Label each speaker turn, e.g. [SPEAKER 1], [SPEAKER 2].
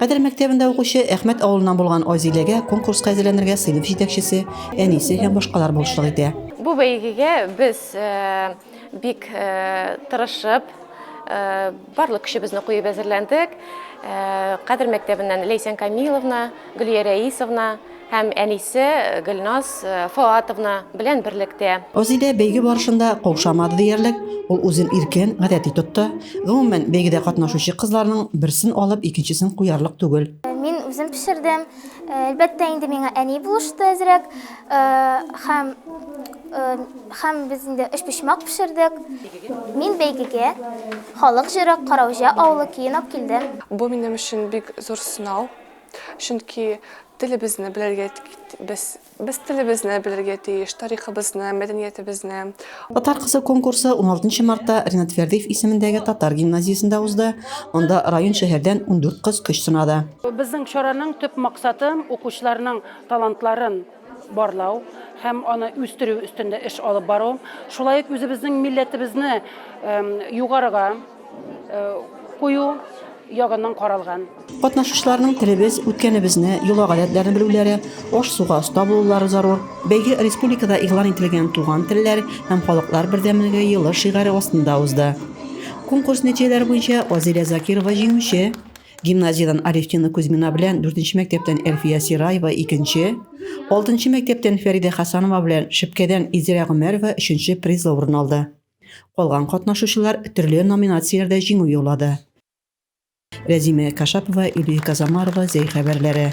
[SPEAKER 1] Кадер мәктәбендә
[SPEAKER 2] укучы Әхмәт авылыннан булган Азиләгә конкурска әзерләнергә сыйныф җитәкчесе, әнисе һәм башкалар булышлык итә. Бу бәйгегә
[SPEAKER 3] без бик тырышып, барлык көчебезне куеп әзерләндек. Кадер мәктәбеннән Ләйсән Камиловна, Гөлия Рәисовна, һәм әнисе Гөлназ Фоатовна белән берлектә. Азидә бәйге
[SPEAKER 2] барышында каушамады диярлек, ул үзен иркен, гадәти тотты. Гомумән, бәйгедә катнашучы кызларның берсен алып, икенчесен куярлык түгел. Мин үзем пешердем.
[SPEAKER 1] Әлбәттә инде, миңа әни булышты әзрәк. Һәм, һәм без инде өчпочмак пешердек. Мин бәйгегә халык җыры Караүҗә авылы көен алып килдем. Бу минем өчен
[SPEAKER 4] бик зур сынау. Чөнки телебезне белергә без без телебезне белергә тиеш, тарихыбызны, мәдәниятебезне. Татар кызы
[SPEAKER 2] конкурсы 16 мартта Ринат Фәрдиев исемендәге татар гимназиясендә узды. Анда район шәһәрдән 14 кыз көч сынады. Безнең чараның
[SPEAKER 5] төп максаты, укучыларның талантларын барлау һәм аны үстерү өстендә эш алып бару, шулай ук үзебезнең милләтебезне югарыга кую ягыннан каралган. Катнашучыларның
[SPEAKER 2] телебез, үткәнебезне, йола-гадәтләрне белүләре, аш-суга оста булулары зарур. Бәйге республикада игълан ителгән Туган телләр һәм халыклар бердәмлеге елы шигаре астында узды. Конкурс нәтиҗәләре буенча Азилә Закирова җиңүче, Гимназиядән Алевтина Кузьмина белән, дүртенче мәктәптән Әлфия Сираева, икенче, алтынчы мәктәптән Фәридә Хәсанова белән Шепкәдән Изирә Гомәрова өченче призлы урын алды. Калган катнашучылар төрле номинацияләрдә җиңү яулады. Рәзимә Кашапова, Илия Казамарова, Зәй хәбәрләре.